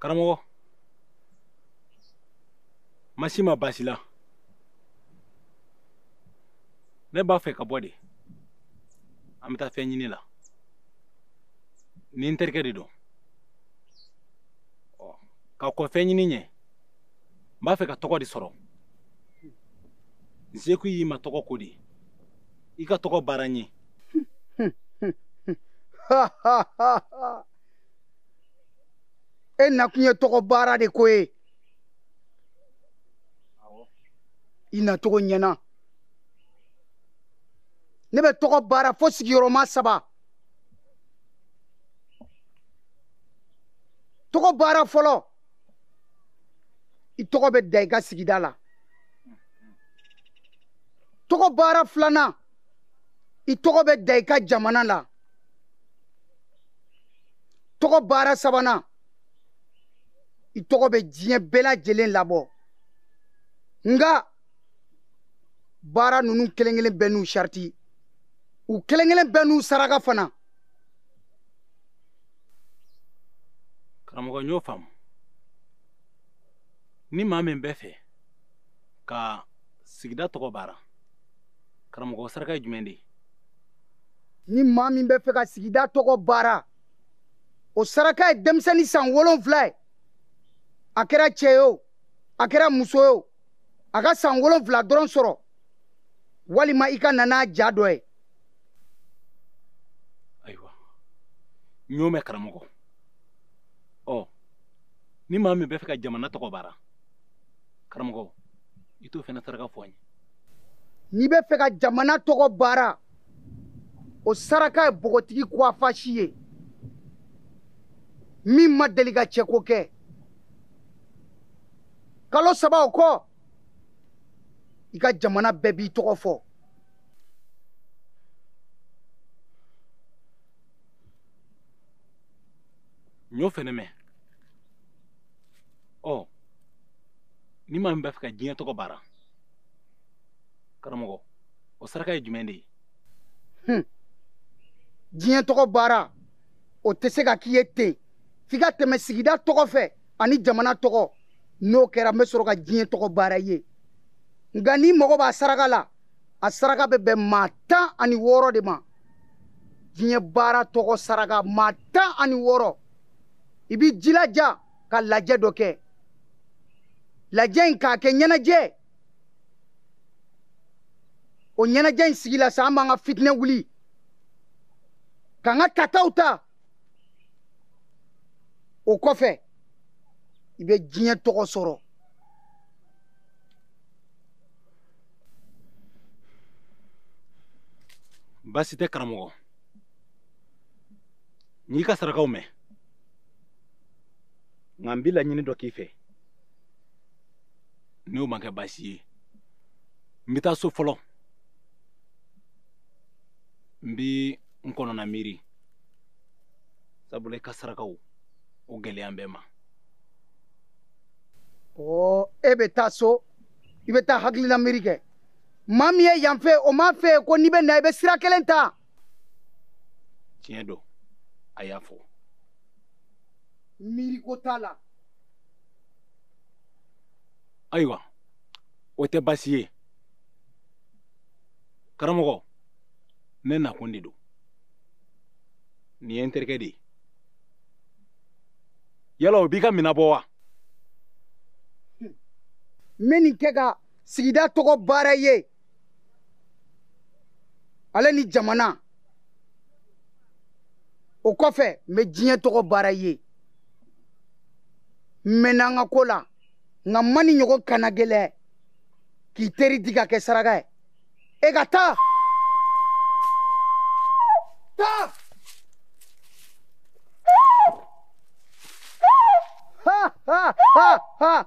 karamɔgɔ n ma s'i ma baasi la ne b'a fɛ ka bɔ de an bɛ taa fɛn ɲini la ni n terikɛ de don ka kɔn fɛn ɲini ɲɛ n b'a fɛ ka tɔgɔ de sɔrɔ n sekun y'i ma tɔgɔ ko de i ka tɔgɔ baara n ye e nakun ye tɔgɔ baara de ko ye i nacogo ɲɛna ne bɛ tɔgɔ baara fo sigiyɔrɔma saba tɔgɔ baara fɔlɔ i tɔgɔ bɛ da i ka sigida la tɔgɔ baara filanan i tɔgɔ bɛ da i ka jamana la tɔgɔ baara sabanan i tɔgɔ bɛ diɲɛ bɛɛ lajɛlen labɔ nka baara ninnu kelen kelen bɛɛ n'u sariti u kelen kelen bɛɛ n'u saraka fana karamɔgɔ n y'o faamu ni maa min bɛ fɛ ka sigida tɔgɔ baara karamɔgɔ saraka ye jumɛn de ye ni maa min bɛ fɛ ka sigida tɔgɔ baara o saraka ye denmisɛnnin san wolonfila ye a kɛra cɛ ye o a kɛra muso ye o a ka san wolonfila dɔrɔn sɔrɔ walima i ka na n'a ja dɔ ye ayiwa n y'o mɛn karamɔgɔ ɔ ni maa min bɛ fɛ ka jamana tɔgɔ baara karamɔgɔ i t'o fana saraka fɔ n ye n'i bɛ fɛ ka jamana tɔgɔ baara o saraka ye bogotigi kuwafasi ye min ma deli ka cɛko kɛ kalo saba o kɔ i ka jamana bɛɛ b'i tɔgɔ fɔ n y'o fɛnɛ mɛn ɔ ni maa min b'a fɛ ka diɲɛ tɔgɔ baara karamɔgɔ o saraka ye jumɛn de ye hmm. diɲɛ tɔgɔ baara o tɛ se ka k'i ye ten f'i ka tɛmɛ sigida tɔgɔ fɛ ani jamana tɔgɔ n'o kɛra n bɛ sɔrɔ ka diɲɛ tɔgɔ baara i ye nka n'i mago b'a saraka la a saraka bɛ bɛn maa tan ani wɔɔrɔ de ma diɲɛ baara tɔgɔ saraka maa tan ani wɔɔrɔ i b'i jilaja ka lajɛ dɔ kɛ lajɛ in k'a kɛ ɲɛnajɛ o ɲɛnajɛ in sigila sa an b'an ka fitinɛ wuli k'an ka tataw ta o kɔfɛ i bɛ diɲɛ tɔgɔ sɔrɔ baasi tɛ karamɔgɔ n y'i ka sarakaw mɛn nka n bɛ laɲini dɔ k'i fɛ n'o ma kɛ baasi ye n bɛ taa so fɔlɔ n bɛ n kɔnɔna miiri sabula i ka sarakaw o gɛlɛya bɛ n ma ɔ e bɛ taa so i bɛ taa i hakilila miiri kɛ maa min ye yan f'e ye o m'a f'e ye ko n'i bɛ na i bɛ sira kelen ta tiɲɛ don a y'a fɔ miiriko t'a la ayiwa o tɛ baasi ye karamɔgɔ ne nakun de don nin ye n terikɛ de ye yala o b'i ka minɛ bɔ wa n bɛ nin kɛ ka sigida tɔgɔ baara i ye ale ni jamana o kɔfɛ n bɛ diɲɛ tɔgɔ baara i ye n mɛnna n ka ko la nka n ma nin ɲɔgɔn kanagɛlɛn ye k'i teri di k'a kɛ saraka ye e ka taa taa ha ha ha ha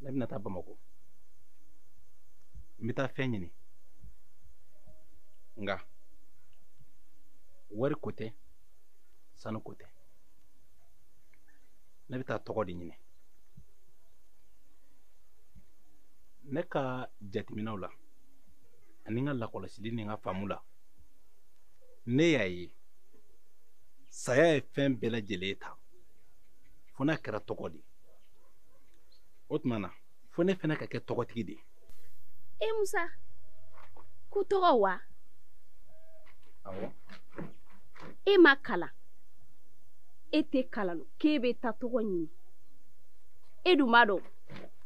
ne bɛna taa bamakɔ n bɛ taa fɛn ɲini nka wari ko tɛ sanu ko tɛ ne bɛ taa tɔgɔ de ɲini ne ka jateminɛw la ani n ka lakɔlɔsili ni n ka faamu la ne y'a ye saya ye fɛn bɛɛ lajɛlen ta fo n'a kɛra tɔgɔ de ye o tuma na fo ne fana ka kɛ tɔgɔtigi de ye e musa ko tɔgɔ wa awɔ e ma kalan e tɛ kalan k'e bɛ taa tɔgɔ ɲini e dun b'a dɔn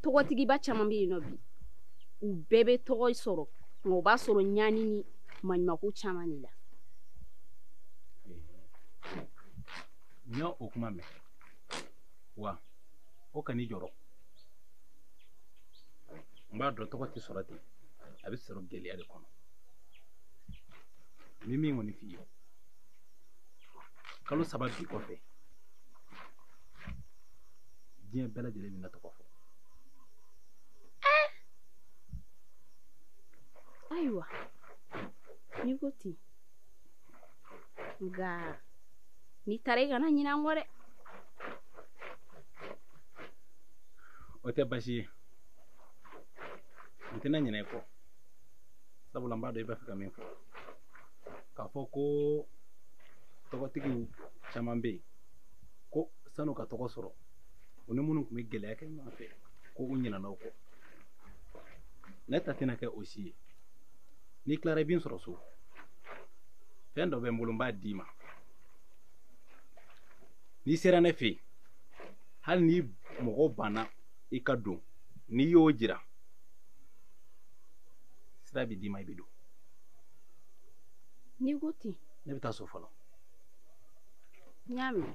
tɔgɔtigiba caman bɛ yen nɔ bi u bɛɛ bɛ tɔgɔ sɔrɔ nka u b'a sɔrɔ ɲani ni maɲumako caman de la n y'o kuma mɛn wa o kan'i jɔrɔ n b'a dɔn tɔgɔ tɛ sɔrɔ ten a bɛ sɔrɔ gɛlɛya de kɔnɔ n bɛ min kɔni f'i ye kalo saba bi kɔfɛ diɲɛ bɛɛ lajɛlen bɛna n tɔgɔ fɔ ayiwa n'i ko ten nka n'i taara i kana ɲinɛ an kɔ dɛ o tɛ basi ye n tɛna ɲinɛ i kɔ sabula n b'a dɔn i b'a fɛ ka min fɔ k'a fɔ ko tɔgɔtigi caman bɛ yen ko san'u ka tɔgɔ sɔrɔ u ni minnu tun bɛ gɛlɛya kɛ ɲɔgɔn fɛ ko u ɲinɛna u kɔ ne ta tɛna kɛ o si ye n'i tilara i bɛ n sɔrɔ so fɛn dɔ bɛ n bolo n b'a d'i ma n'i sera ne fɛ yen hali ni mɔgɔw banna i ka don n'i y'o jira sira bɛ d'i ma i bɛ don n'i ko ten ne bɛ taa so fɔlɔ n y'a mɛn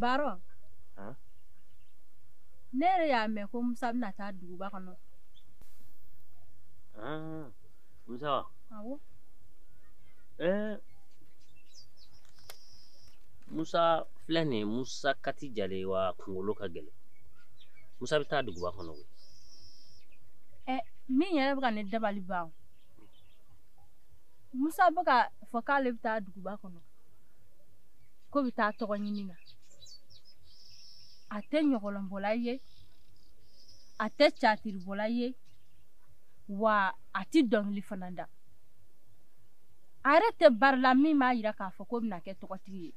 baarɔ Huh? ne yɛrɛ y'a mɛn ko musa bɛna taa duguba kɔnɔ Ah, musa wa awɔ Eh, musa filɛ nin ye musa kati jalen w'a kunkolo ka gɛlɛn musa bɛ taa duguba kɔnɔ koyi min yɛrɛ bɛ ka ne dabali ban o musa bɛ k'a fɔ k'ale bɛ taa duguba kɔnɔ ko a bɛ taa tɔgɔ ɲini na a tɛ ɲɔgɔlɔnbɔla ye a tɛ catiribɔla ye wa a tɛ dɔnkili fana da a yɛrɛ tɛ baara la min b'a jira k'a fɔ ko a bɛna kɛ tɔgɔtigi ye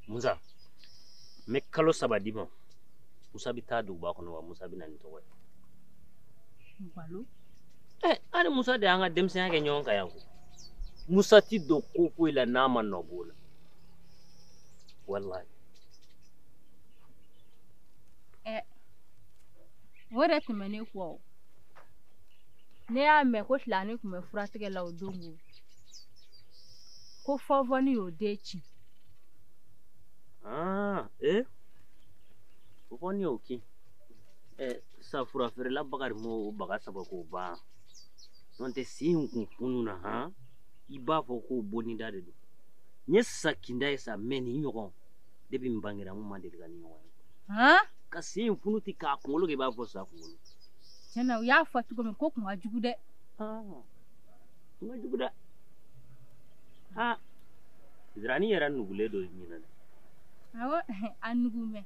musa n bɛ kalo saba d'i ma musa bɛ taa duguba kɔnɔ wa musa bɛ na ni tɔgɔ ye balo ɛ an ni musa de y'an ka denmisɛnya kɛ ɲɔgɔn kan yan koyi musa tɛ don ko foyi la n'a ma nɔ b'o la walayi o de tun bɛ ne kɔ o. ne y'a mɛn ko filani tun bɛ furatigɛ la o don o ko fɔnfɔnni y'o den kin aa ee fɔnfɔnni y'o kin ɛ sa fura feerela bakari m'o baga sama k'o ban n'o tɛ si in kun funun na han i b'a fɔ k'o bonida de don n ye sa kinda ye sa mɛ nin ɲɔgɔn depi n bangera n ma deli ka nin ɲɔgɔn ye ka si in funu ten k'a kunkolo k'i b'a fɔ sa kunkolo tiɲɛ na u y'a fɔ cogo min ko kun ka jugu dɛ kun ka jugu dɛ ha zirani yɛrɛ nugulen don ɲinɛ dɛ awɔ a nugu mɛn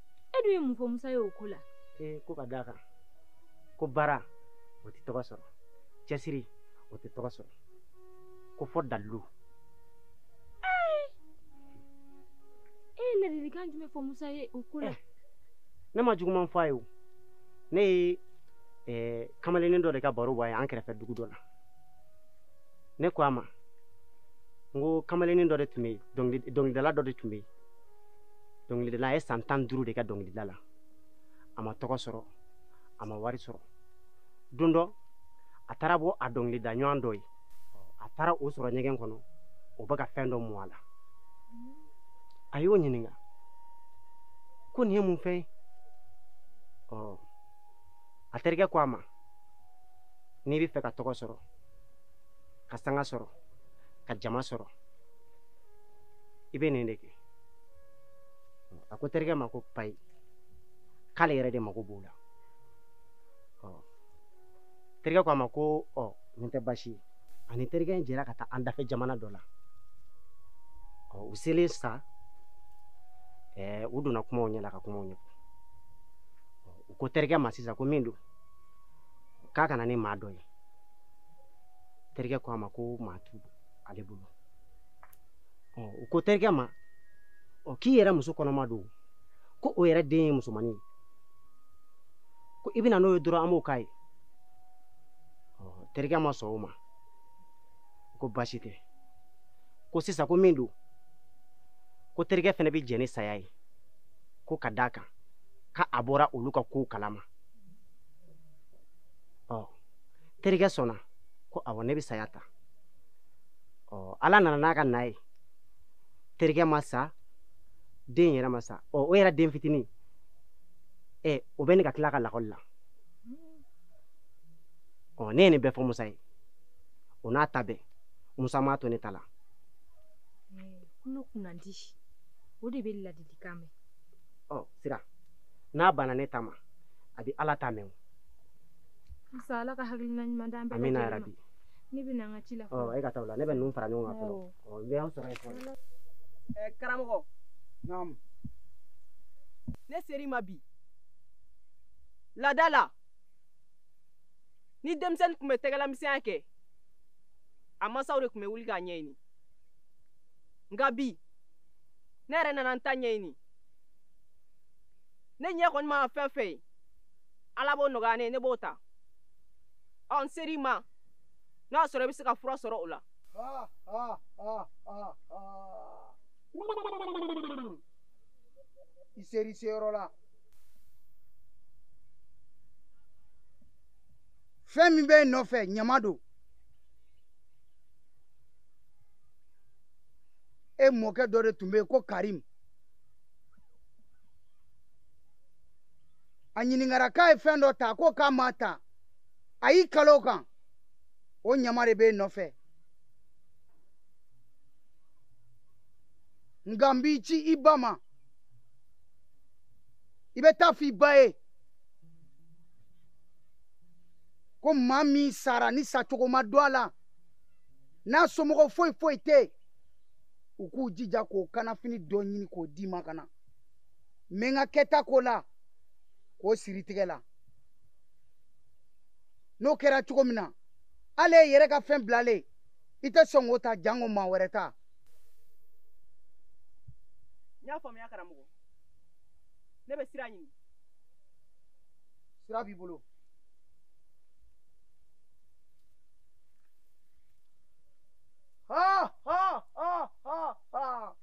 e dun ye mun fɔ musa ye o ko la ee ko ka d'a kan ko baara o tɛ tɔgɔ sɔrɔ cɛsiri o tɛ tɔgɔ sɔrɔ ko fɔ dalilu e ye ladilikan jumɛn fɔ musa ye o ko la ne ma juguman fɔ a ye o ne ye eh, kamalennin dɔ de ka baro bɔ a ye an kɛrɛfɛ dugu dɔ la ne ko a ma n ko kamalennin dɔ de tun bɛ yen dɔnkili- dɔnkilidala dɔ de tun bɛ yen dɔnkilidala a ye san tan duuru de kɛ dɔnkilida la a ma tɔgɔ sɔrɔ a ma wari sɔrɔ don dɔ a taara bɔ a dɔnkilida ɲɔgɔn dɔ ye a taara o sɔrɔ ɲɛgɛn kɔnɔ o bɛ ka fɛn dɔ mu a la a y'o ɲininka ko nin ye mun fɛn ye ɔ a terikɛ ko a ma n'i bɛ fɛ ka tɔgɔ sɔrɔ ka sanga sɔrɔ ka jama sɔrɔ i bɛ nin de kɛ a ko terikɛ ma ko payi k'ale yɛrɛ de mago b'o la terikɛ ko a ma ko ɔ nin tɛ baasi ye a ni terikɛ in jɛra ka taa an dafɛ jamana dɔ la ɔ u selen sa ɛɛ u donna kumaw ɲɛ la ka kumaw ɲɛfɔ u ko terikɛ ma sisan ko min don k'a ka na ni maa dɔ ye terikɛ ko a ma ko maa tɛ ale bolo u ko terikɛ ma ɔ k'i yɛrɛ muso kɔnɔma don ko o yɛrɛ den ye musomannin ye ko i bɛ na n'o ye dɔrɔn an b'o k'a ye terikɛ ma sɔn o ma ko baasi tɛ ko sisan ko min don ko terikɛ fana bɛ jɛn ni saya ye ko ka d'a kan ka a bɔra olu ka kow kalama ɔ terikɛ sɔnna ko awɔ ne bɛ saya ta ɔ ala nana n'a ka na ye terikɛ ma sa den yɛrɛ ma sa ɔ o yɛrɛ den fitinin ɛ o bɛ ne ka tila ka lakɔli la ɔ ne ye nin bɛɛ fɔ musa ye o n'a ta bɛɛ musa m'a to ne ta la tulo kunnadi o de bɛ ladilikan mɛn ɔ sira n'a banna ne ta ma a bɛ ala ta mɛn Nsa ala ka hakili ɲuman da bɛ min yɛrɛ bi ne bɛ an ka ci la e ka taa la ne bɛ ninnu fara ɲɔgɔn kan sɔrɔ karamɔgɔ ne ser'i ma bi laada la ni denmisɛnnin tun bɛ tɛgɛlamisɛnya kɛ a masaw de tun bɛ wuli k'a ɲɛɲini nka bi ne yɛrɛ nana n ta ɲɛɲini ne ɲɛ kɔni mana fɛn fɛn ye ala b'o nɔgɔya n ye ne b'o ta ɔ n ser'i ma n'a y'a sɔrɔ i bɛ se ka fura sɔrɔ o la i ser'i seyɔrɔ la fɛn min b'e nɔfɛ ɲama don e mɔkɛ dɔ de tun bɛ yen ko karim a ɲininkara k'a ye fɛn dɔ ta ko k'a ma ta a y'i kali o kan o ɲama de b'e nɔfɛ nka n b'i ci i ba ma i bɛ taa fɔ i ba ye ko maa min sara ni sacogo ma dɔn a la n'a somɔgɔ foyi foyi tɛ yen u k'u jija k'o kanafini dɔ ɲini k'o d'i ma ka na n bɛ n ka kɛta k'o la k'o sir'i tɛgɛ la n'o kɛra cogo min na hali e yɛrɛ ka fɛn bilalen i tɛ sɔn k'o ta janko maa wɛrɛ ta n y'a faamuya karamɔgɔ ne bɛ sira ɲini sira b'i bolo ha ha ha ha ha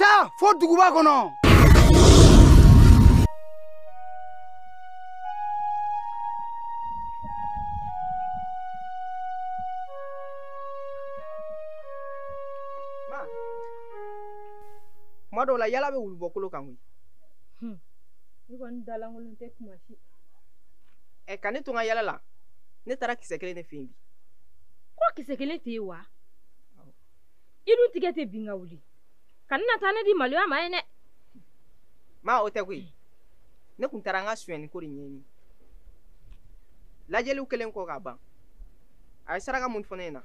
taa fo duguba kɔnɔ kuma dɔw la yala bɛ wulu bɔ kolo kan koyi hmm. ne kɔni da lankolon tɛ kuma si ɛ ka ne to n ka yala la ne taara kisɛ kelen de fɛ yen bi ko kisɛ kelen tɛ yen wa i dun tigɛ tɛ bin ka wuli kana na taa ne di maloya ma yen dɛ ma o tɛ koyi ne tun taara an ka sonyɛni ko de ɲɛɲini lajɛli kɛlen kɔ ka ban a ye saraka min fɔ ne ɲɛna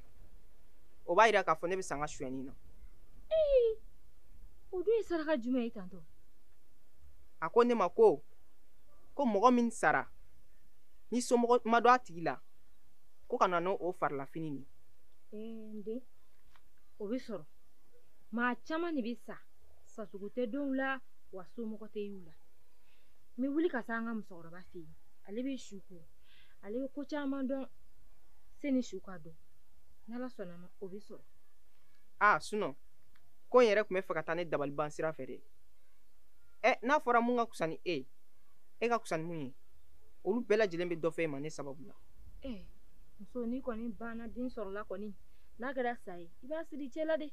o b'a yira k'a fɔ ne bɛ se an ka sonyɛni na o dun ye saraka jumɛn ye tantɔ a ko ne ma ko ko mɔgɔ min sara ni somɔgɔ ma dɔn a tigi la ko ka na n'o farilafini nin ee o bɛ sɔrɔ maa caman de bɛ sa sasugu tɛ dɔn u la wa somɔgɔ tɛ y'u la n bɛ wuli ka taa an ka musokɔrɔba fɛ yen ale bɛ su ko ale bɛ ko caman dɔn sani su ka don n'ala sɔnna ma o bɛ sɔrɔ aa sunɔ ko n yɛrɛ tun b'a fɛ ka taa ne dabaliban sira fɛ dɛ ɛ n'a fɔra mun ka kusa ni e ye e ka kusa ni mun ye olu bɛɛ lajɛlen bɛ dɔ fɔ e ma ne sababu la eh, muso nin kɔni banna den sɔrɔla kɔni n'a kɛra sa ye i b'a siri i cɛ la de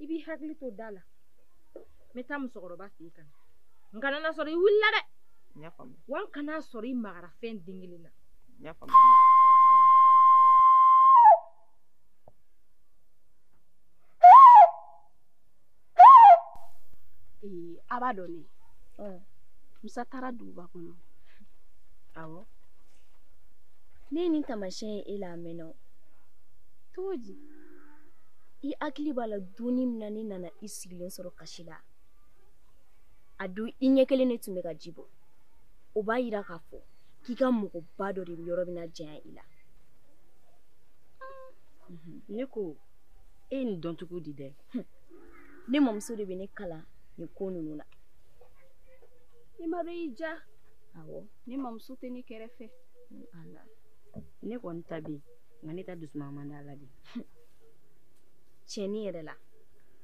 i b'i hakili to da la n bɛ taa musokɔrɔba fɛ yen ka na n kana n'a sɔrɔ i wulila dɛ wa n kan'a sɔrɔ i magara fɛn den kelen na a b'a dɔn ne musa taara duguba kɔnɔ awɔ ne ye nin taamasiyɛn ye e la a mɛnna o cogo di i hakili b'a la don nin min na ne nana i sigilen sɔrɔ kasi la a don i ɲɛ kelen de tun bɛ ka ji bɔ o b'a yira k'a fɔ k'i ka mɔgɔba dɔ de yɔrɔ bɛna janya i la ne ko e ye nin dɔn cogo di dɛ ne mamuso de bɛ ne kalan nin ko ninnu na i ma dɔn y'i ja awɔ ne mamuso tɛ ne kɛrɛfɛ ne kɔni ta bɛ yen nka ne ta dusuma man di a la dɛ tiɲɛ nin yɛrɛ la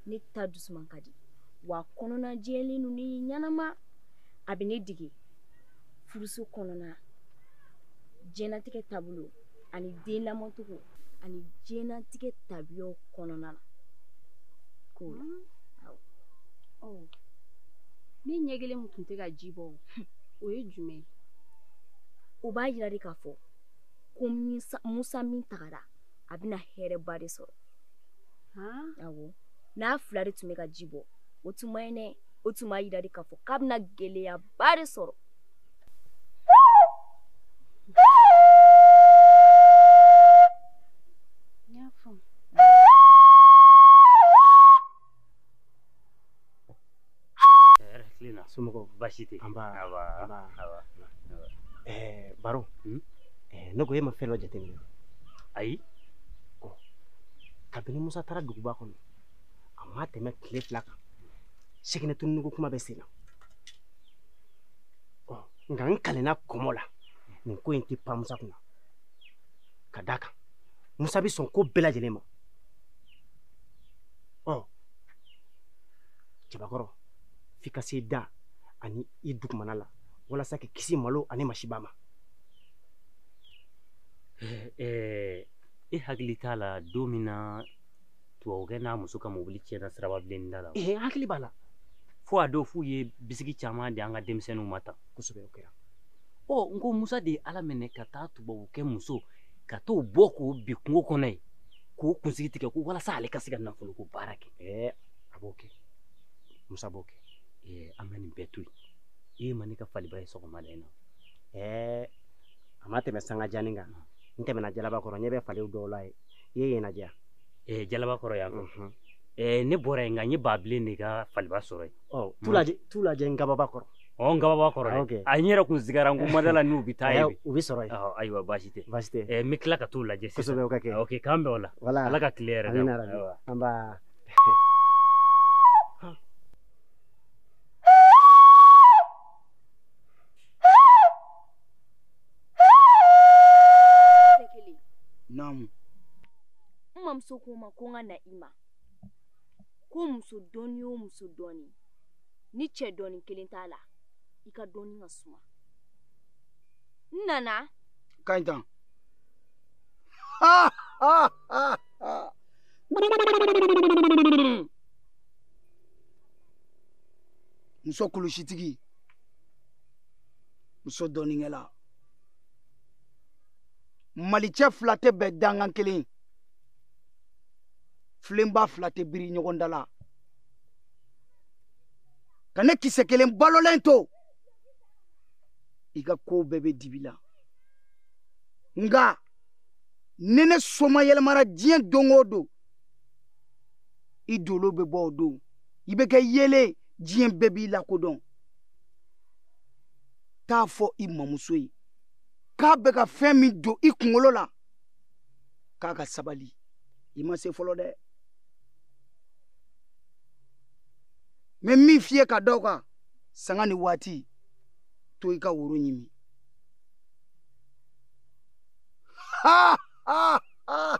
ne ta dusuma ka di wa kɔnɔna jɛlen don ni ɲɛnama a bɛ ne dege furuso kɔnɔna diɲɛlatigɛ taabolo ani den lamɔcogo ani diɲɛlatigɛ tabiyaw kɔnɔna na k'o la hmm. awɔ ɔ ne ɲɛ kelen min tun tɛ ka ji bɔ o ye jumɛn ye o b'a yira de k'a fɔ ko musa min tagara a bɛna hɛrɛba de sɔrɔ awɔ n'a fila de tun bɛ ka ji bɔ o tun man ɲi dɛ o tun b'a yira de k'a fɔ k'a bɛna gɛlɛyaba de sɔrɔ somɔgɔw baasi tɛ an baro ne ko e ma fɛn dɔ jateminɛ ayi kabini musa taara duguba kɔnɔ a ma tɛmɛ tile fila kan seginɛ tununko kuma bɛ sen na nka n kalenna kɔmɔ la nin ko in tɛ pan musa kunna ka d'a kan musa bɛ sɔn ko bɛɛ lajɛlen ma ɔ cɛbakɔrɔ f'i ka se i da ani i dugumana la walasa k'i kisi malo ani masiba ma i hakili t'a la don min na tubabukɛ n'a muso ka mobili tiɲɛna siraba bilen da la ee n hakili b'a la fo a don f'u ye bisiki caman di an ka denmisɛnninw ma tan kosɛbɛ o kɛra ɔ n ko musa de ye ala minɛ ka taa tubabukɛ muso ka t'o bɔ k'o bin kungo kɔnɔ yen k'o kunsigi tigɛ ko walasa ale ka se ka nafolo ko baara kɛ ɛɛ a b'o kɛ musa b'o kɛ ɛɛ an ka nin bɛɛ to yen e ma ne ka faliba ye sɔgɔma da in na ɛɛ a ma tɛmɛ sanga janni kan n tɛmɛna jalaba kɔrɔ n ɲɛ bɛ fali dɔw la yen i ye yen lajɛ eh, jalaba kɔrɔ yan mhm. eh, ne bɔra yen nka n ye baabilen de ka faliba sɔrɔ yen oh, t'u lajɛ ngababa kɔrɔ ɔ oh, ngababa kɔrɔ ah, dɛ a n yɛrɛ kun sigara n ko mada la n'u bɛ taa yen u bɛ sɔrɔ yen oh, ayiwa baasi tɛ baasi tɛ eh, n bɛ tila ka t'u lajɛ sisan kosɛbɛ o ka kɛ ok k'an bɛn o la ala ka tile hɛrɛ d'an ma Naamu n mamuso ko n ma ko n ka na i ma ko muso dɔnni o muso dɔnni ni cɛ dɔnni kelen t'a la i ka dɔnni ka suma n nana ka ɲi tan muso kulusitigi muso dɔnnikɛla malicɛ fila tɛ bɛn dankan kelen filenba fila tɛ biri ɲɔgɔn da la ka ne kisɛ kelen balolen to i ka kow bɛɛ bɛ dibi la nka ni ne soma yɛlɛmara diɲɛ don o don i dolo bɛ bɔ o don i bɛ kɛ yeelen diɲɛ bɛɛ b'i lakodɔn t'a fɔ i mamuso ye k'a bɛ ka fɛn min don i kunkolo la k'a ka sabali i ma se fɔlɔ dɛ n bɛ min f'i ye ka da o kan sanga ni waati to i ka woro ɲimi ha ha ha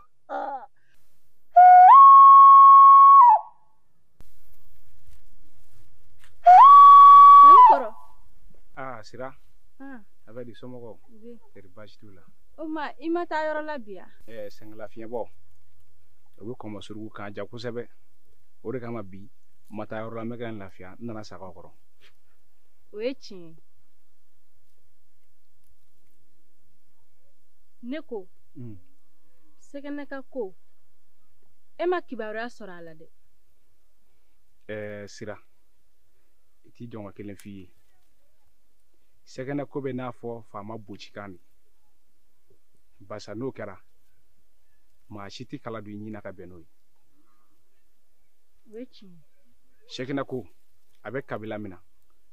a sira a bɛ di somɔgɔw teri baasi t'u la o ma i ma taa yɔrɔ la bi wa ɛɛ sɛngɛla fiɲɛbɔ o bɛ kɔmɔ surugu k'a ja kosɛbɛ o de kama bi n ma taa yɔrɔ la n bɛ ka n lafiya n nana sagaw kɔrɔ o ye tiɲɛ ne ko sɛgɛnɛ ka ko e ma kibaruya sɔrɔ a la dɛ ɛɛ sira i t'i jɔ n ka kelen f'i ye sɛgɛnɛ ko bɛ n'a fɔ faama bocikan de barisa n'o kɛra maa si tɛ kala don i ɲin na ka bɛn n'o ye o ye tiɲɛ ye sɛgɛnɛ ko a bɛ kabila min na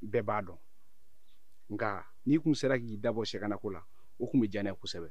bɛɛ b'a dɔn nka n'i tun sera k'i dabɔ sɛgɛnɛ ko la o tun bɛ diya ne ye kosɛbɛ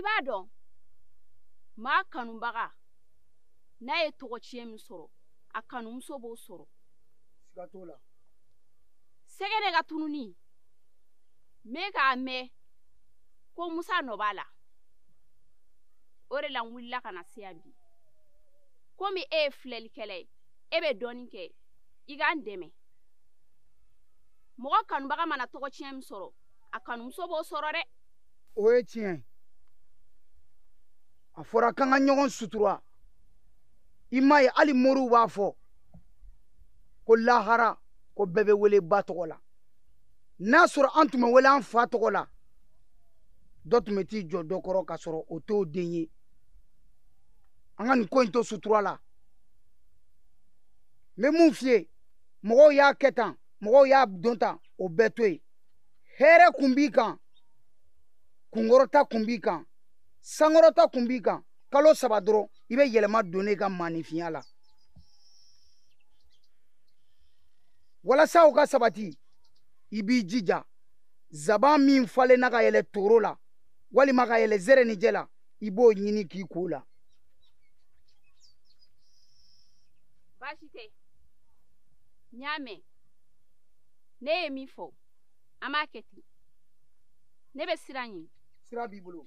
i b'a dɔn maa kanubaga n'a ye tɔgɔtiɲɛ min sɔrɔ a kanumuso b'o sɔrɔ siga t'o la sɛgɛnɛ ka tununi ne y'a mɛn ko musa nɔ b'a la o de la n wulila ka na se yan bi komi e ye filɛlikɛla ye e bɛ dɔnni kɛ i ka n dɛmɛ mɔgɔ kanubaga mana tɔgɔtiɲɛ min sɔrɔ a kanumuso b'o sɔrɔ dɛ o ye tiɲɛ ye a fɔra k'an ka ɲɔgɔn sutura i m'a ye hali moriw b'a fɔ ko lahara ko bɛɛ bɛ wele ba tɔgɔ la n'a sɔrɔ an tun bɛ wele an fa tɔgɔ la dɔ tun bɛ t'i jɔ dɔ kɔrɔ k'a sɔrɔ o t'o den ye an ka nin ko in to sutura la n bɛ mun f'i ye mɔgɔw y'a kɛ tan mɔgɔw y'a dɔn tan o bɛɛ to yen hɛrɛ kun b'i kan kunkɔrɔta kun b'i kan sankɔrɔta kun b'i kan kalo saba dɔrɔn i bɛ yɛlɛma don i ka maaninfinya la walasa o ka sabati i b'i jija zaban min falenna ka yɛlɛ toro la walima ka yɛlɛ zɛrɛnijɛ la i b'o ɲini k'i ko la baasi tɛ n y'a mɛn e ye min fɔ an b'a kɛ ten ne bɛ sira ɲini sira b'i bolo